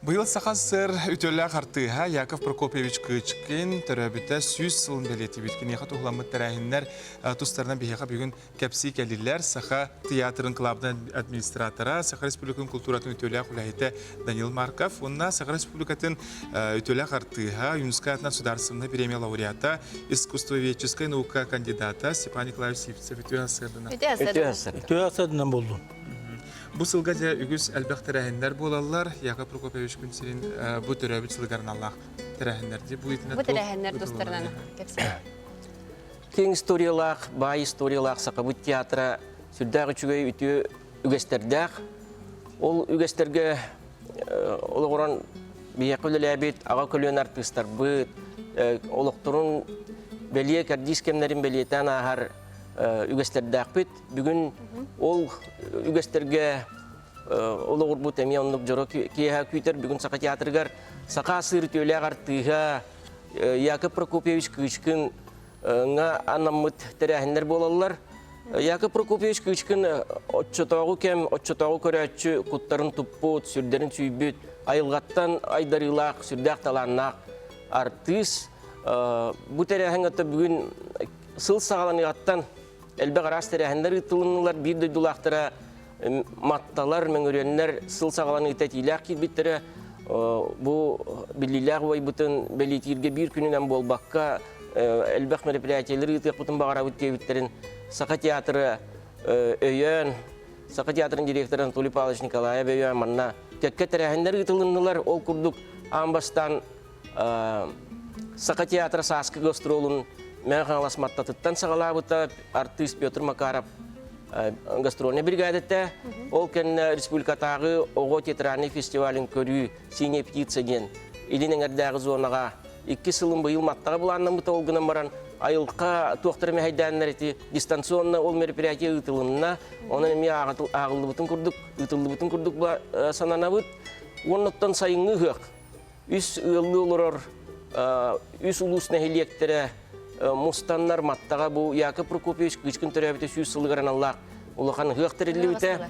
Быйыл Саха СССР үтүөлээх артыыһа Яков Прокопьевич Кычкин төрөөбүтэ сүүс сылын бэлиэтиибит. Киниэхэ туһуламмыт тэрээһиннэр тустарынан биһиэхэ бүгүн кэпсии кэллилэр. Саха театрын клабын администратора, Саха Республикатын култууратын үтүөлээх үлэһитэ Данил Марков уонна Саха Республикатын үтүөлээх артыыһа, юнускай атынан судаарыстыбынай премия лауреата, искусствоведческай наука кандидата Степан Николаевич Сивцев үтүө сырдана. Үтүө сырдана. Үтүө сырдана булдун. Бу сылга дьэ үгүс элбэх тэрээһиннэр буолаллар. Яков Прокоповичпын сирин бу төрөөбүт сылыгар аналлаах тэрээһиннэр дии. Бу итинэ тэрээһиннэр тустарынан кэпсээн. Кең историялаах, баай историялаах Сахабыт театра сүрдээх үчүгэй үтүө үгэстэрдээх. Ол үгэстэргэ олоҕуран биһиэхэ үлэлээбит аҕа көлүөн артыыстарбыт, олохторун бэлиэ кэрдиис кэмнэрин бэлиэтээн ааһар үгэстэрдээхпит. бүгүн ол үгэстэргэ олоҕурбут эмиэ оннук дьоро киэһэ күүтэр бүгүн саха театрыгар саха сыр үтүөлээх артыыһа Яков Прокопьевич Кыычкыҥҥа анаммыт тэрээһиннэр буолаллар. Яков Прокопьевич Кыычкын оччотооҕу кэм, оччотооҕу көрөөччү куттарын туппут, сүрдэрин сүүйбүт, айылҕаттан айдарыылаах, сүрдээх талааннаах артыыс. Бу тэрээһин бүгүн сыл саҕаланыаҕыттан элбэх араас тэрээһиннэр ыытылыннылар. Биир дойдулаахтара матталар, мөҥүрүөннэр сыл саҕалан ыыта этиилээх киирбиттэрэ. Бу биллиилээх убайбытын бэлиэтииргэ биир күнүнэн буолбакка, элбэх мероприятиелар ыытыахпытын баҕарабыт диэбиттэрин Саха театра өйөөн, Саха театрын директора Анатолий Павлович Николаев өйөөн манна кэккэ тэрээһиннэр ыытылыннылар. Ол курдук аан бастаан Саха театра Сааскы гастролун Мэҥэ Хаҥалас Маттатыттан саҕалаабыта артыыс Петр Макаров гастрольная бригадата. Ол кэннэ республикатааҕы оҕо театральный фестивалин көрүү «Синяя птица» диэн Илин эҥэрдээҕи зонаҕа иккис сылын быйыл Маттаҕа былааннаммыта ол гынан баран айылҕа туохтара мэһэйдээннэр ити дистанционно ол мероприятие ыытылынна. Онон эмиэ ааҕыллыбытын курдук, ыытыллыбытын курдук сананабыт. Уоннуттан сайыҥҥы ыһыах үс ыаллыы олорор үс улуус нэһилиэктэрэ мустаннар маттаҕа бу Яков Прокопьевич кыычкын төрөөбүтэ сүүс сылыгар аналлаах улахан ыһыах тэриллибитэ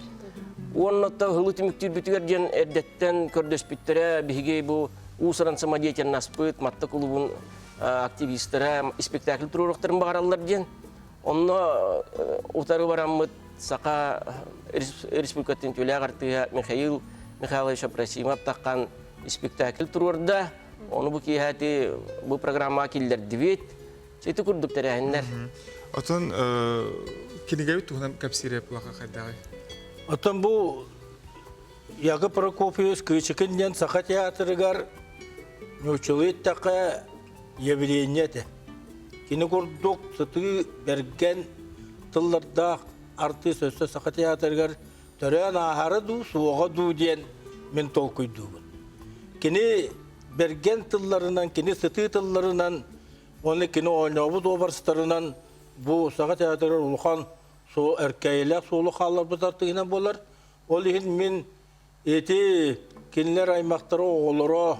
уонна та ыһылы түмүктүүрбүтүгэр диэн эрдэттэн көрдөспүттэрэ биһиги бу уус-уран самодеятельнаспыт матта кулубун активистара испектакль туруорахтарын баҕараллар диэн Онно утары бараммыт Саха Республикатын тюлях артыыһа Михаил Михайлович Абрасимов таххан спектакль туруорда. Ону бу киэһэти бу программаға киллердибит. Ити курдук тэрээһиннер. Отон кинигэбит туһунан кэпсиире плаха хайдаҕы? Отон бу Яга Прокопьевич Кыычыкын диэн Саха театрыгар ньучулуйт тақа явление этэ. Кини курдук сытыы бэргэн тыллардаах артыыс өссө Саха театрыгар төрөөн ааһара дуу, суоҕа дуу диэн мин толкуйдуубун. Кини бэргэн тылларынан, кини сытыы тылларынан, уонна кини оонньообут образтарынан бу Саха театрыгар улахан суол, өркэйэлээх суолу хаалларбыт артыыһынан буолар. Ол иһин мин Ити кинилэр аймактара оҕолоро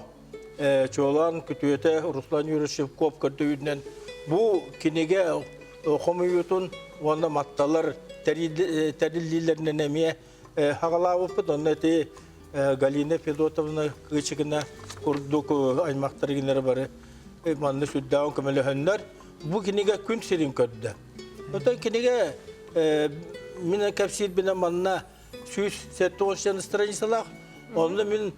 чуолаан күтүөтэ Руслан Юрьевич Шевков көрдөйүүнэн бу кинигэ хомуйуутун уонна матталар тэриллиилэринэн эмиэ хаҕалаабыппыт онно ити Галина Федотовна Кычигина курдук аймактары кинилэр бары манна сүрдээҕин көмөлөһөннөр бу кинигэ күн сирин көрдө. Оттон кинигэ мин кэпсиирбинэн манна сүүс сэттэ уон настроениесалаах онно мин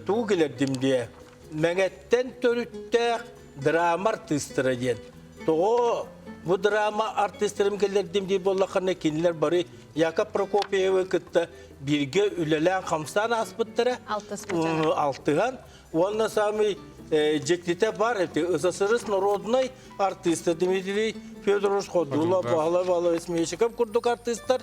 тугу кэлэрдим диэ мэҥэттэн төрүттээх драма артыыстара диэн тоҕо бу драма артыыстарым кэллэрдим дии буоллаххына кинилэр бары якоб прокопьевы кытта бииргэ үлэлээн хамсаан ааспыттара алтыһан уонна самый дьиктитэ бар эти СССР народнай артыыста Дмитрий Федорович Ходула Бахлай Валовец Мещиков курдук артыыстар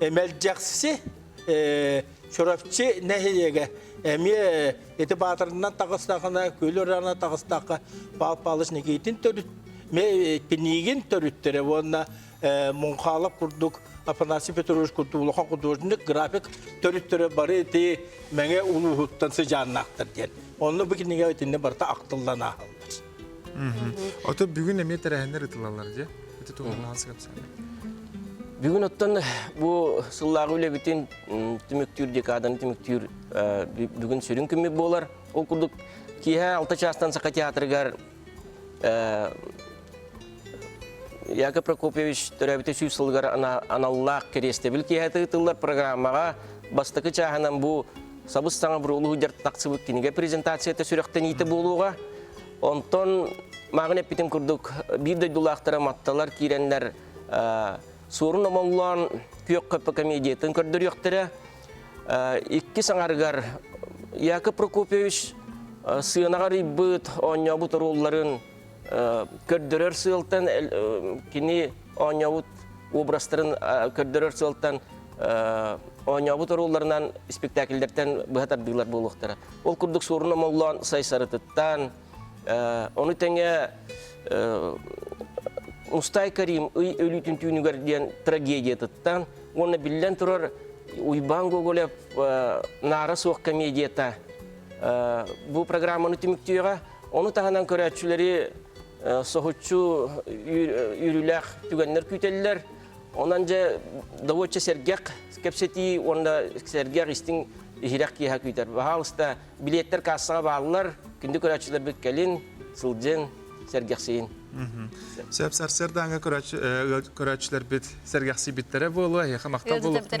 Эмэлдьэхси Чурапчы нэһилиэгэ эмиэ ити баатырынан тахыстахына, күлүрана тахыстахха Пал Палыч Никитин төрүт ме кинигин төрүттөрө уонна Мунхалов курдук Афанасий Петрович Кутулахан художник график төрүттөрө бары ити Мэҥэ улууһуттан сыдьааннаахтар диэн. Онно бу кинигэ итиннэ барыта ахтыллан ааһаллар. Ото бүгүн эмиэ тэрээһиннэр ытылалар же. Ити туһулаан сыгапсаны. Бүгүн оттон бу сыллааҕы үлэбитин түмүктүүр декаданы түмүктүүр бүгүн сүрүн күммүт буолар. Ол курдук киэһэ алта чаастан Саха театрыгар Яков Прокопьевич төрөөбүтэ сүүс сылыгар аналлаах кириэстэбил киэһэтэ ыытыллар программаҕа бастакы чааһынан бу сабыс-саҥа буруолу сылдьар тахсыбыт кинигэ презентацията сүрэхтэниитэ буолуоҕа. Онтон мааҕын эппитим курдук, биир дойдулаахтара матталар киирэннэр Суорун Омоҥлоон Күөх Көппө комедиятын көрдөрүөхтэрэ. Иккис аҥарыгар Яков Прокопьевич сыанаҕар ыйбыт, оонньообут оруолларын көрдөрөр сыалтан кини оонньообут образтарын көрдөрөр сыалтан оонньообут оруолларынан спектакльдэртэн быһа тардыылар буолуохтара. Ол курдук Суорун Омоллоон Сайсарытыттан, ону тэҥэ Мустай Карим ый өлүүтүн түүнүгэр диэн трагедиятыттан уонна биллэн турар Уйбаан Гоголев Наара суох комедията бу программаны түмүктүөҕэ Ону таһынан көрөөччүлэри соһуччу үүрүүлээх түгэннэр күүтэллэр. Онон дьэ довольно сэргэх кэпсэтии уонна сэргэх истиҥ иһирэх киэһэ күүтэр. Баһаалыста билеттер кассаҕа бааллар. Күндү көрөөччүлэрбит кэлин, сылдьын, сэргэхсийин. Сөп сарсыардааҥы көрөөччүлэрбит сэргэхсийбиттэрэ буолуо, эһиэхэ махтал болуохтун.